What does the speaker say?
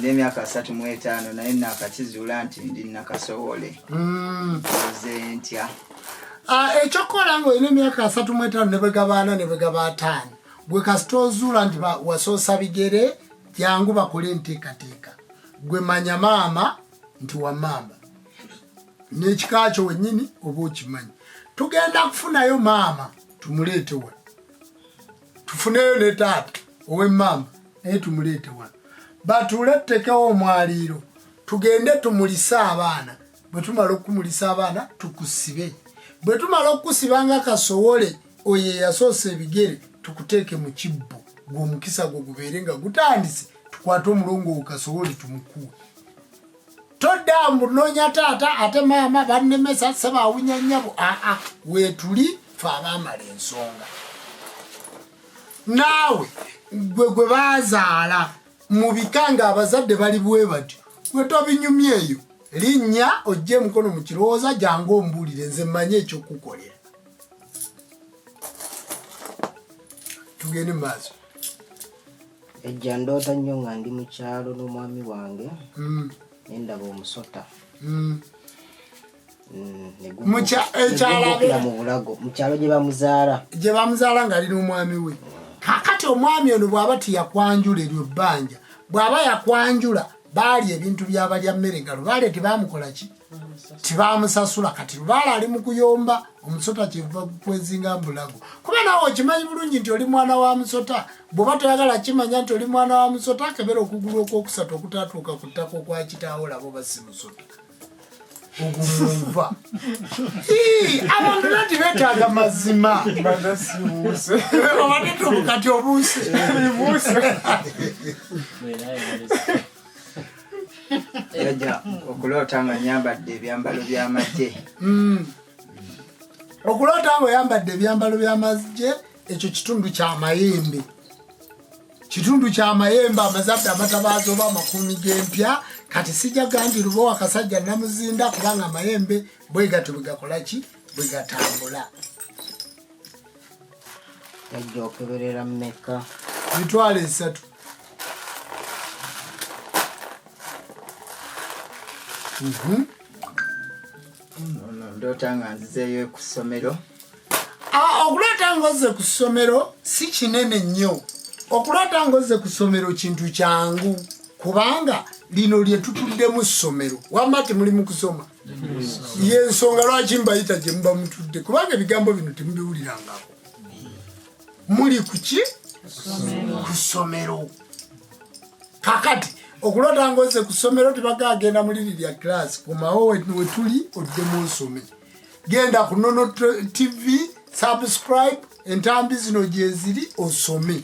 nina emyaka asatu mu etaano naye nakakizuula nti ndi nakasowole hmm. oze ntya ah, ekyokukola nga olina emyaka asatu mu etaano nebwegabaana nebwegaba ataano gwe kasita ozuula nti wasoosa bigere jangu bakole enteekateeka gwe manya maama nti wamaama nekikakyo wenyini oba okimanyi tugenda kufunayo maama tumuleete wa tufuneyo ne taata ow'emmamba naye tumuleete wano batuule tutekewo omwaliiro tugende tumulise abaana bwe tumala okukumulisa abaana tukusibe bwe tumala okukusiba nga kasowole oyo eyasoose ebigere tukuteeke mu kibbo gweomukisa gwo gubeere nga gutandise tukwate omulongo wo kasowole tumukuwe toddamu nonya taata ate maama bannemesa sebawunya nyabo aa ah, ah, wetuli fe abamala ensonga naawe gwe gwe bazaala mu bika nga abazadde bali bwe batyo gwe tobinyumya eyo linnya ojja emukono mu kirowooza jangu ombuulire nze mmanye ekyokukolera tugende mu maaso ejja ndoota nnyo nga ndi mu kyalo n'omwami wange hmm. nendaba omusota hmm. hmm, mukyalo gyebamuzaala gyebamuzaala ngaali n'omwami we kakati omwami ono bwaba tiyakwanjula eryo bbanja bwaba yakwanjula baali ebintu byabalya mmere galo baale tebamukolaki tibamusasula kati lubaala ali mukuyomba omusota kyeva kwezinga mbulago kuba nawe okimanyi bulungi nti oli mwana wa musota bwoba toyagala kimanya nti oli mwana wa musota akebera okugulu okwokusatu okutatuuka ku ttaka okwakitaawo labo basi musota ogumuva abantu nati betaaga mazima obadde tobukati obuuse yajja okuloota nga nyambadde ebyambalo by'amagye hmm. okuloota nga oyambadde ebyambalo by'amagye ekyo kitundu kyamayembe kitundu kyamayembe amazadde amatabaazi oba amakuumi g'empya kati sijja gandi luba wakasajja namuzinda kubanga amayembe bwegatyo bwegakolaki bwegatambula ejja okeberera mumeka mitwalo esatu mhm. ndoota nga nzizeeyo ku ssomero okuloota nga ozze ku ssomero si kinene nnyo okuloota nga ozze ku ssomero kintu kyangu kubanga lino lye tutuddemu ssomero wamma temulimu kusoma yensonga lwaki mbayita gye muba mutudde kubanga ebigambo bino temubiwulirangako muli kuki ku ssomero kakati okulota ngoze ku ssomero tibaga agenda mu liri lya kilasi komawo wetuli odde mu nsome genda ku nono tv subscribe entambi zino gyeziri osome